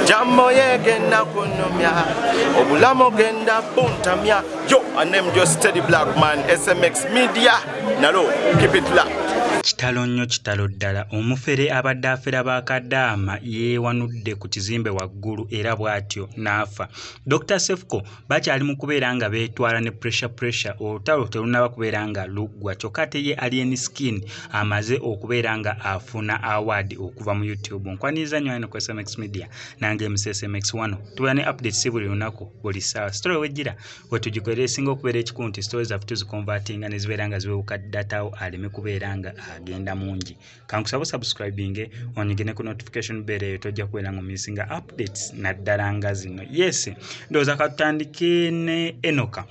jambo yegenda kunyumya obulamu genda buntamya yo anem jo steady black man smx media nalo keep it locked kitalo nnyo kitalo ddala omufere abadde afera ba kadaama yeewanudde ku kizimbe waggulu era bw'atyo n'afa dr sefco bakyali mu kubeera nga beetwala ne pressure pressure olutalo terunnaba kubeera nga luggwa kyokka ate ye alien skin amaze okubeera nga afuna award okuva mu youtube nkwaniriza nnyo ino ku smx media nange msmx wano tubeera ne update si buli lunaku buli ssaawa sitore wejjira wetugikolera esinga okubeera ekikulu nti sitore zaffe tuzikonvatinga ne zibeera nga ziwewuka datawo aleme kubeera nga agenda mungi kankusaba osubscribinge onyige ne ku notification bell eyo tojja kubeera nga omisinga updates naddala nga zino yes ndowooza katutandike ne enoka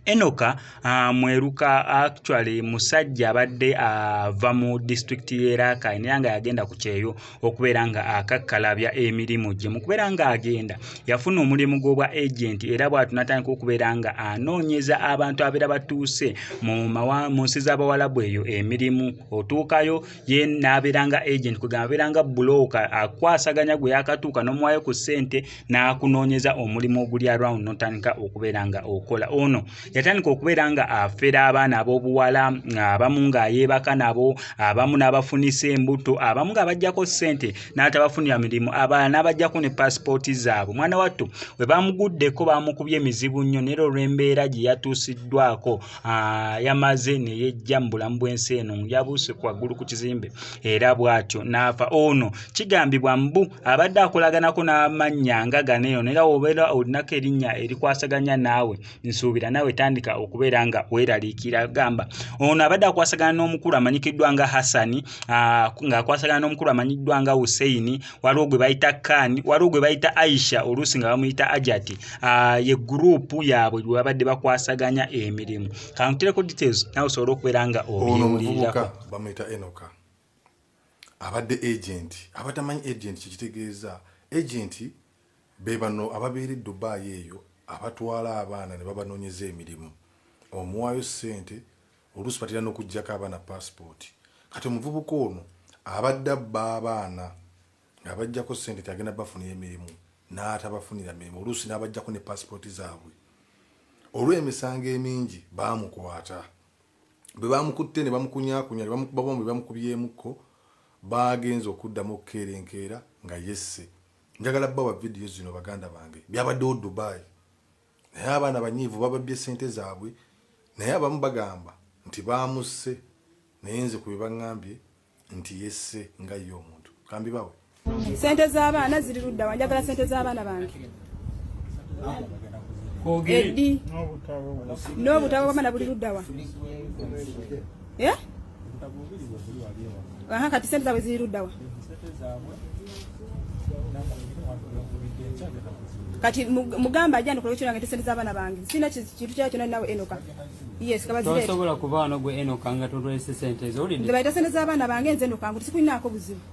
enoka uh, mweruka actually musajja abadde ava uh, mu disitulikiti y'erakai naye nga yagenda ku kyeyo okubeera nga akakkalabya emirimu gye mu kubeera nga agenda yafuna omulimu gw'obwa agenti era bwatu natandika okubeera nga anoonyeza abantu abeera batuuse mu nsi z'abawalabu eyo emirimu otuukayo ye n'abeera nga agenti kwegamba abeera nga bulooka akwasaganya gwe yakatuuka n'omuwayo ku ssente n'akunoonyeza omulimu oguli around notandika okubeera nga okola ono yatandika okubeera nga afera abaana ab'obuwala abamu nga yeebaka nabo abamu n'abafunisa embuto abamu nga bajjako ssente n'atabafunira mirimu abalala n'abajjako ne paasipooti zaabwe omwana wattu bwe bamuguddeko baamukubye emizibu nnyo nera olw'embeera gye yatuusiddwako yamaze ne yejja mu bulamu bw'ensi eno yabuuse ku waggulu ku kizimbe era bw'atyo n'afa ono kigambibwa mbu abadde akolaganako n'amannya nga gano eno nera wobeera olinako erinnya erikwasaganya naawe nsuubira naawe tandika okubeera nga weeraliikira gamba ono abadde akwasagana n'omukulu amanyikiddwa nga hassani ah, ng'akwasagana n'omukulu amanyiddwa nga husseini waliwo gwe bayita kani waliwo gwe bayita aisha oluusi nga bamuyita ajati ah, ye guruupu yaabwe gwe babadde bakwasaganya emirimu kankutereko details naawe osobole okubeera nga obyewulirirako bamuyita enoka abadde agenti abatamanyi agenti kyekitegeeza agenti Be bano ababeera e Dubai eyo abatwala abaana ne babanoonyeza emirimu, omuwaayo ssente oluusi batera n'okuggyako abaana paasipooti. Kati omuvubuka ono abadde abba abaana ng'abaggyako ssente nti agenda bafunira emirimu n'atabafunira mirimu oluusi n'abaggyako ne paasipooti zaabwe. Olw'emisango emingi baamukwata. Bwe baamukutte ne bamukunyaakunya ne bamukuba bombi bamukubyemukko baagenze okuddamu okukeera enkeera nga yesse. njagala bawa vidiyo zino baganda bange byabaddewo dubai naye abaana banyiivu bababbye sente zaabwe naye abamu bagamba nti baamusse naye nze ku bebaŋambye nti yesse nga ye omuntu kambi bawe sente z'abaana ziri luddawa njagala sente z'abaana bange edi n'obutabo bwamana buli luddawa eh? Aha, kati sente zaabwe ziri luddawa? kati mugamba ajja ndikola ekyo nange tesente z'abaana bange sina kintu kyakyo nali nawe enoka yes kabazireetosobola kubaano gwe enoka nga tolwese sente ezo wulidde bayita sente z'abaana bange nze enoka ngu tisikulinaako buzibu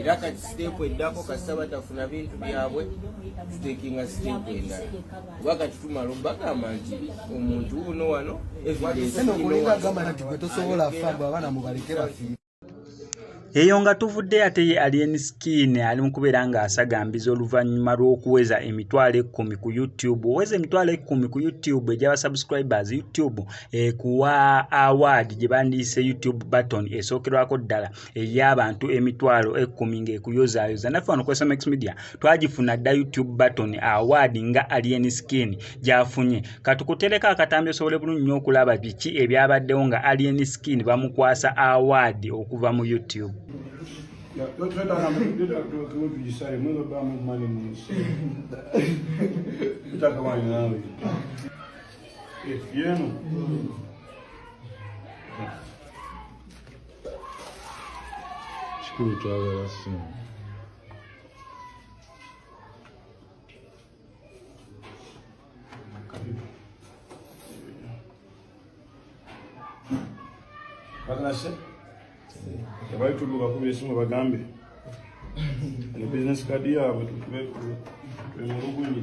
era kati siteepu eddako kasita batafuna bintu byabwe tutekinga siteepu endala kuba kati tumala bagamba nti omuntu wuno wano eyo nga tuvudde ate ye alien skin ali mukubeera nga asagambiza oluvannyuma lw'okuweza emitwalo ekkumi ku youtube oweza emitwalo ekkumi ku youtube egyaba subscribers youtube ekuwa award gye bandiyise youtube button esookerwako ddala ey'abantu emitwalo ekkumi ng'ekuyozaayoza naffe wano kwesa max media twagifuna dda youtube button award nga alien skin gyafunye katukutereko akatambi osobole bulungi nyo okulaba biki ebyabaddewo nga alien skin bamukwasa award okuva mu youtube Yeah. kikulu twagala ssente bakanase tebali tuduka kuba esimu bagambe ne bizinesi kadi yaabwe tukibe emulugunyi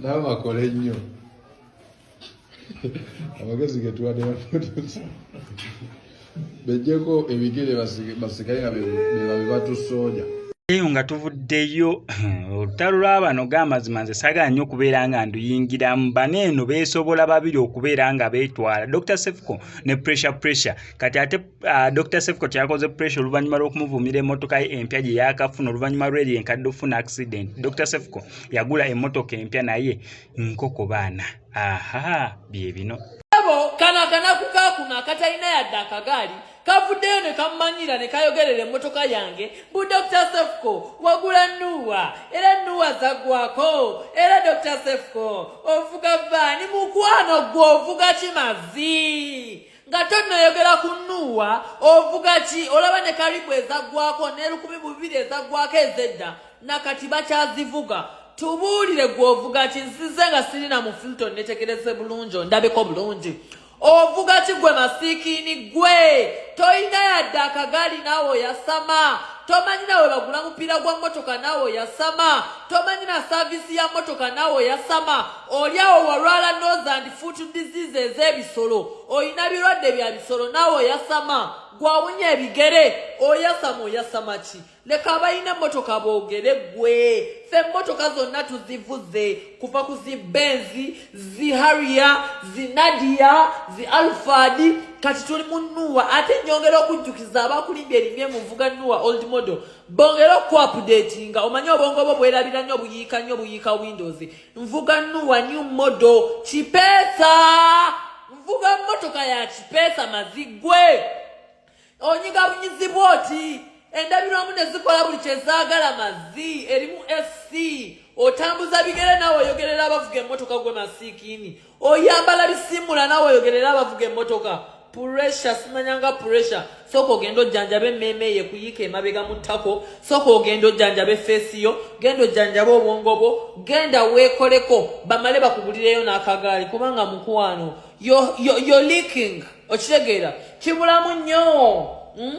nawe bakole nnyo amagezi getuwadde baprodusa bejjeko ebigere basigale nga bebabibatusooja eyo nga tuvuddeyo olutalo lw'abano g'amazima nze sagala nnyo okubeera nga nduyingiramu bano eno beesobola babiri okubeera nga beetwala dr sefco ne pressure pressure kati ate Uh, Dr. Sefcot yakoze pressure oluvannyuma lw'okumuvumira emmotoka ye empya gye yaakafuna oluvannyuma lw'eri enkadde okufuna accident. Dr. Sefco yagula emmotoka empya naye nkoko baana. Aha, bye bino. Ebo kano akanaku kaakuno akatalina yadde akagaali kavuddeyo ne kammanyira ne kayogerera emmotoka yange bu Dr. Sefco wagula nuwa era nuwa zaggwako era Dr. Sefco ovuga vaani mukwano gwe ovuga kimazi. nga tonnoyogera ku nuuwa ovuga ki olaba ne karibu ezaggwako n'erukumi bubiri ezaggwako ezedda nakati bakyazivuga tubuulire gwovuga ki nzize nga sirina mu filton netegereze bulungi ondabeko bulungi ovuga ki gwe masiikiini gwe tolina yadde akagaali naawe oyasama tomanyi nawe bagula mupiira gwa mmotoka naawe oyasama tomanyi na saaviisi ya mmotoka naawe oyasama olyawo walwala nose and foot disease ez'ebisolo olina birwadde bya bisolo naawe oyasama gwawunya ebigere oyasama oyasama ki leka abalina emmotoka boogere gwe fe emmotoka zonna tuzivuze kuva ku zi benzi zi hariya zi nadiya zi alfadi kati tuli mu nuwa ate nyongera okujjukiza abakulimbya erimye muvuga nuwa old model bongere okuapdati nga omanye obwongo bwo bwerabira nnyo buyiika nnyo buyiika windows nvuga nuwa new model kipesa nvuga motoka ya kipesa mazigwe onyiga bunyizibwa oti endabirwamu ne zikola buli kyezaagala mazzi erimu fc otambuza bigere naawe oyogerera abavuga emmotoka gwe masiikiini oyambala bisiimula nawe oyogerera abavuga emmotoka puresha simanyanga puresha sooka ogenda ojjanjaba emmeeme ye kuyiika emabega mu ttako sooka ogenda ojjanjaba efeesi yo genda ojjanjaba obwongo bwo genda weekoleko bamale bakugulireyo n'akagaali kubanga mukwano yo leaking okitegeera kibulamu nnyo hmm?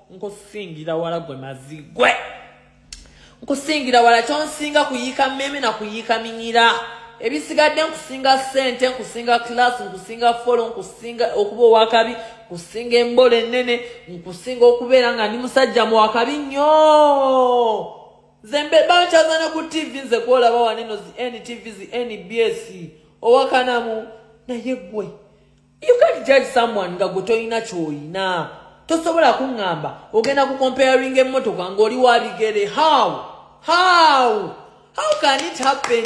nkusingira wala gwe mazigwe nkusingira wala kyonsinga kuyiika mmeme na kuyiika minyira ebisigadde nkusinga sente nkusinga kilasi nkusinga folo nkusinga okuba owakabi nkusinga embola ennene nkusinga okubeera nga ndi musajja muwakabi nnyo nze mbebankyazana ku tivi nze kwolaba waneno zi ntv zi nbs owakanamu naye gwe You can't judge someone nga gwe tolina kyoyina tosobola kuŋŋamba ogenda ku comparing emmotoka ng'oli wa bigere how how how can it happen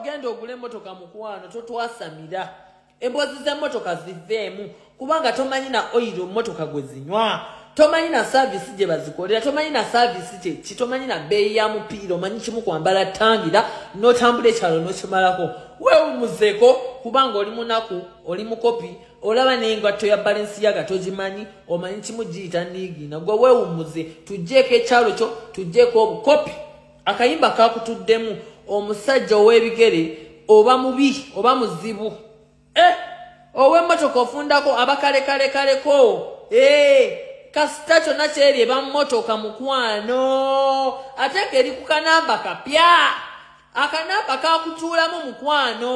genda ogula emmotoka mukwano totwasamira emboozi z'emmotoka ziveemu kubanga tomanyi na oyiro mmotoka gwe zinywa tomanyi na saaviisi gye bazikolera tomanyi na saaviisi kyeki tomanyi na bbeeyi ya mupiira omanyi kimu kwambala tangira n'otambula ekyalo n'okimalako weewumuzeko kubanga oli munaku oli mukopi olaba n'engatto ya balensi yaga togimanyi omanyi kimu giyita niigiina gwe weewumuze tuggyeko ekyalo kyo tuggyeko obukopi akayimba kakutuddemu omusajja ow'ebigere oba mubi oba muzibu eh, ow'emmotoka ofundako abakalekalekaleko eh, kasita kyonna kyeri eba mmotoka mukwano ate ngeri ku kanamba kapya akanamba kakutuulamu mukwano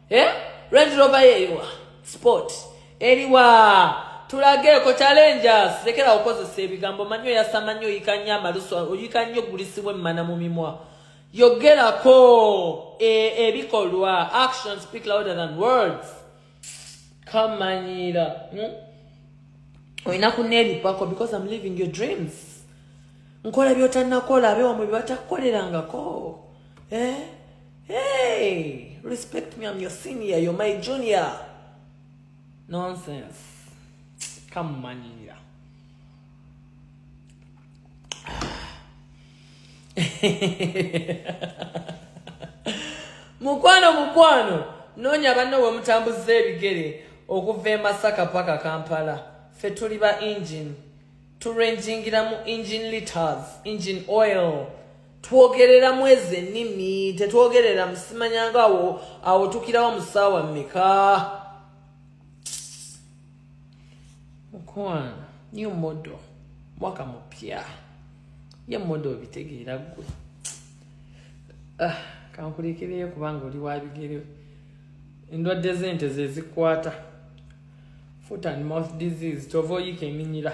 eh? Range Rover yeewa sport eriwa tulageeko challenges lekera okozesa ebigambo manyi oyasama nyo oyika nyo amalusu oyika nyo gulisibwa emmana mu mimwa yogerako e, ebikolwa e, action speak louder than words kamanyiira hmm? olina kuneeripako because im living your dreams nkola byotanakola abewamwe byebatakukolerangako eh? Hey, respect me, I'm your senior, you're my junior. Nonsense. Come on, yeah. mukwano mukwano noonya banno we mutambuza ebigere okuva e masaka paka kampala fe tuli ba engine turenjingiramu engine liters engine oil twogereramu ezo ennimi tetwogerera musimanyanga awo awo tukirawo mu ssaawa mmeka mukwana new model mwaka mupya ye model obitegeera ggwe ah, kankulekereyo kubanga oli wabigere endwadde z'ente zezikwata foot and mouth disease kyova oyika eminyira